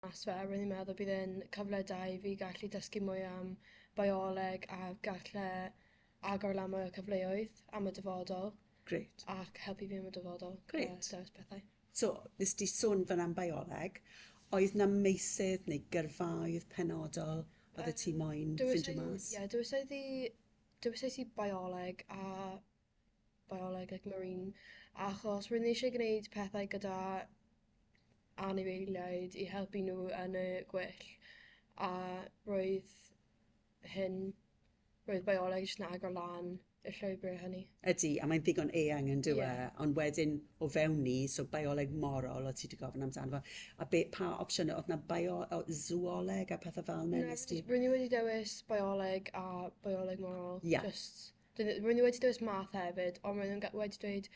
mas fe, rwy'n i'n meddwl bydd e'n cyfle da i fi gallu dysgu mwy am bioleg a galle agor lan mwy o cyfleoedd am y dyfodol. Grêt. Ac helpu fi am y dyfodol. Grêt. Gyda dewis pethau. So, nes di sôn fan am bioleg, oedd na meisydd neu gyrfaoedd penodol oedd y ti moyn ffindio mas? Ie, dywysais i, dywysais i bioleg a bioleg ac marine achos rwy'n eisiau gwneud pethau gyda anifeiliaid i helpu nhw yn y gwyllt a roedd hyn... roedd bioleg jyst yn agor lan y llwybrau hynny. Ydy, a mae'n ddigon eang yn dyw e. Yeah. Ond wedyn, o fewn ni, so bioleg morol, o ti wedi gofyn amdano fo, a be, pa opsiynau, oedd na bio, o, zooleg a pethau fel yna? Nes ti... Rwy'n i wedi dewis bioleg a bioleg morol. Yeah. Just... Roedd nhw wedi dewis math hefyd, ond roedd nhw'n wedi dweud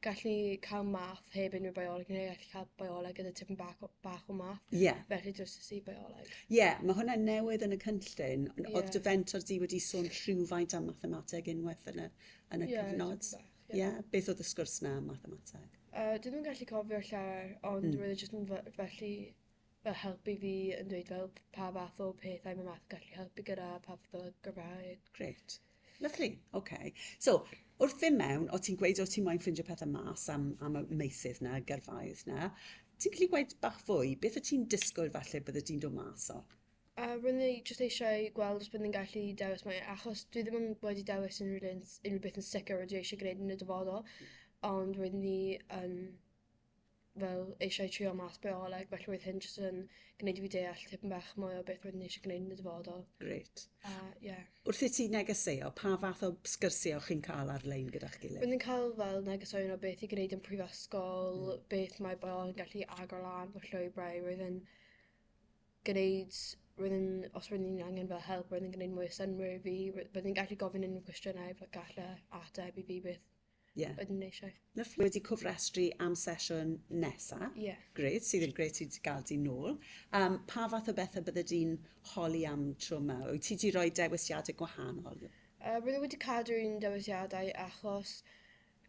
gallen ni cael math heb unrhyw bioleg, neu gallen ni cael bioleg gyda tipyn bach, bach o math. Ie. Yeah. Felly jyst y si bioleg. Ie, yeah, mae hwnna'n newydd yn y cynllun. Yeah. Oedd dy fentor di wedi sôn rhywfaint am mathemateg unwaith yn y, yn y yeah, cyfnod? Ie, yeah. yeah. beth oedd y sgwrs na am mathemateg? Uh, dwi ddim yn gallu cofio llawer, ond mm. roedd e jyst yn felly fel helpu fi yn dweud fel pa fath o pethau mae math yn gallu helpu gyda, pa fath o Gymraeg. Gret. Lyfli, oce. So, wrth ddim mewn, o ti'n gweud o ti'n moyn ffeindio pethau mas am, am y meysydd na, y gyrfaoedd na, ti'n gallu gweud bach fwy, beth o ti'n disgwyl falle bydde ti'n dod mas o? A rwy'n ni jyst eisiau gweld os byddwn ni'n gallu dewis mae, achos dwi ddim yn wedi dewis unrhyw, unrhyw beth yn sicr rydw i eisiau gwneud yn y dyfodol, ond rwy'n ni yn fel eisiau trio mas bioleg, felly roedd hyn jyst yn gwneud i fi deall tipyn bach mwy o beth roeddwn i eisiau gwneud yn y dyfodol. Gret. A, ie. Yeah. Wrth i ti negeseuo, pa fath o sgyrsiau chi'n cael ar-lein gyda'ch gilydd? Roeddwn i'n cael fel negeseuon o beth i gwneud yn prifysgol, mm. beth mae bioleg yn gallu agor lan fy llwybrau, roeddwn gwneud roeddwn, os roeddwn i'n angen fel help, roeddwn i'n gwneud mwy o synwyr i fi, roeddwn i'n gallu gofyn unrhyw cwestiynau, fe gallai ateb i fi beth Ie. Oeddwn i eisiau. Lyfli. Wedi cofrestru am sesiwn nesa. Ie. Gret, sydd yn gret i ti gael di nôl. Um, pa fath o bethau bydde di'n holi am tro yma? Wyt ti wedi rhoi dewisiadau gwahanol? Uh, Rydw wedi cadw un dewisiadau achos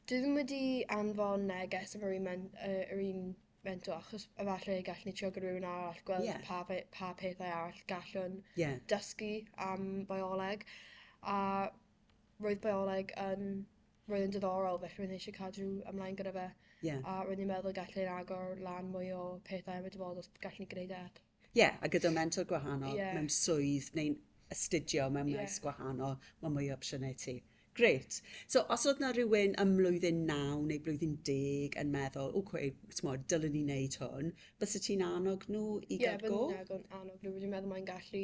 dwi ddim wedi anfon neges am yr un, men, uh, yr un mentor achos efallai gallwn ni trio gyda rhywun arall gweld yeah. pa, pa pethau arall gallwn yeah. dysgu am bioleg. A roedd bioleg yn... roedd yn diddorol, felly roedd eisiau cadw ymlaen gyda fe. Ie. A roedd ni'n meddwl gallwn ni'n agor lan mwy o pethau am y dyfodol os gallwn ni gwneud e. Ie, yeah, a gyda mentor gwahanol yeah. mewn swydd neu'n astudio mewn yeah. maes gwahanol, mae mwy o opsiynau ti. Gret. So, os oedd na rhywun ym mlwyddyn 9 neu blwyddyn 10 yn meddwl, o, cwe, tmod, dylwn ni wneud hwn, bys y ti'n annog nhw i yeah, gael go? Ie, bys i'n annog nhw. Rwy'n meddwl mae'n gallu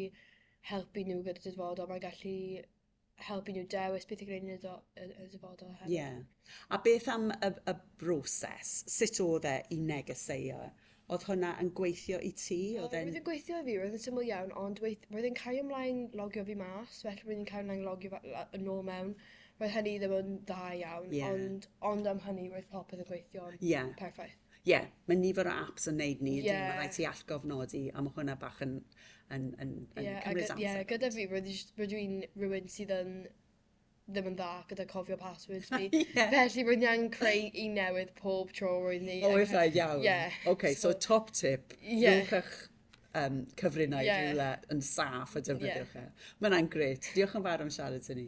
helpu nhw gyda dyfodol, mae'n gallu helpu nhw dewis beth i gwneud yn y dyfodol hefyd. Ie. A beth am y, y broses? Sut oedd e i negeseuo? Oedd hwnna yn gweithio i ti? Oedd e'n... Roedd yn gweithio i fi, roedd yn syml iawn, ond weith- roedd yn cael ymlaen logio fi mas, felly roedd yn cael ymlaen logio yn ôl mewn. Roedd hynny ddim yn dda iawn, yeah. ond, ond am hynny roedd popeth yn gweithio'n yeah. perffaith. Ie, yeah, mae nifer o apps yn neud ni, yeah. mae rhaid ti allgofnodi, a mae hwnna bach yn, yn, yn, yn yeah, cymryd amser. Ie, yeah, gyda fi, rydw i'n rhywun sydd yn ddim yn dda gyda cofio passwords fi. yeah. Felly rwy'n i'n creu i newydd pob tro rwy'n ni. O, eithaf iawn. Yeah. OK, so, so top tip, yeah. rhywch eich um, cyfrinau yeah. rhywle yn saff a defnyddiwch yeah. e. Mae'n gret. Diolch yn fawr am siarad i ni.